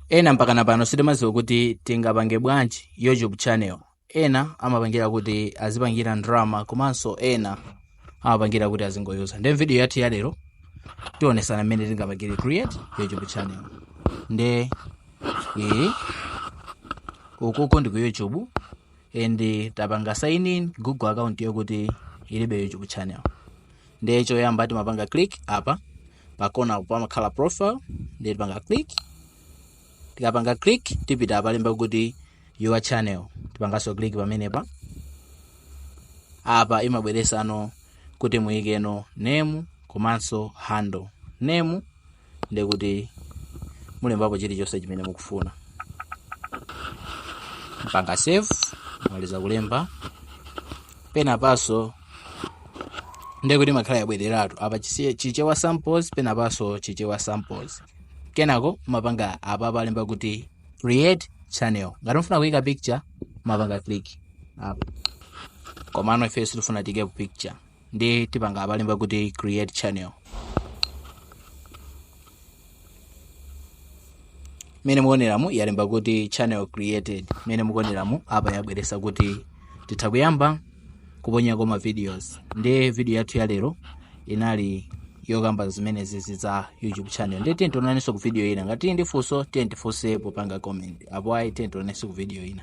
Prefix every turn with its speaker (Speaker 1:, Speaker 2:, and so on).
Speaker 1: ena mpakana pano sitimadziwa kuti tingapange bwanji youtube channel ena amapangira kuti azipangira drama komanso ena amapangira kuti azingoyuza nde video yathu ya lero tionesana mmene tingapangire create youtube channel nde ukuku ndi ku youtube and tapanga sign in google account yokuti ilibe youtube channel ndiye choyamba timapanga click apa pakona pamakhala profile ndiye tipanga click tikapanga click tipita apalemba kuti your channel tipanganso click pamenepa apa imabweresa ano kuti muyikeno name komanso handle name ndiye kuti mulembapo chilichonse chimene mukufuna mpanga save mwamaliza kulemba penapanso ndiye kuti imakhala yabwereratu apa chisi- chichewa samples penapanso chichewa samples kenako mapanga apa apo alemba kuti create channel ngati mufuna kuyika picture mapanga click apa komano ife sitifuna tiike picture ndiye tipanga apalemba kuti create channel mene mukuoneramu yalemba kuti channel created mene mukuoneramu apa yabweresa kuti titha kuyamba kuponyako ma videos ndiye video yathu ya lero inali yokamba zimene zizi za youtube channel ndiye tiye tionanenso ku video ina ngati muli ndi funso tiye tifunse popanga comment apo ayi tiye tionanenso ku video ina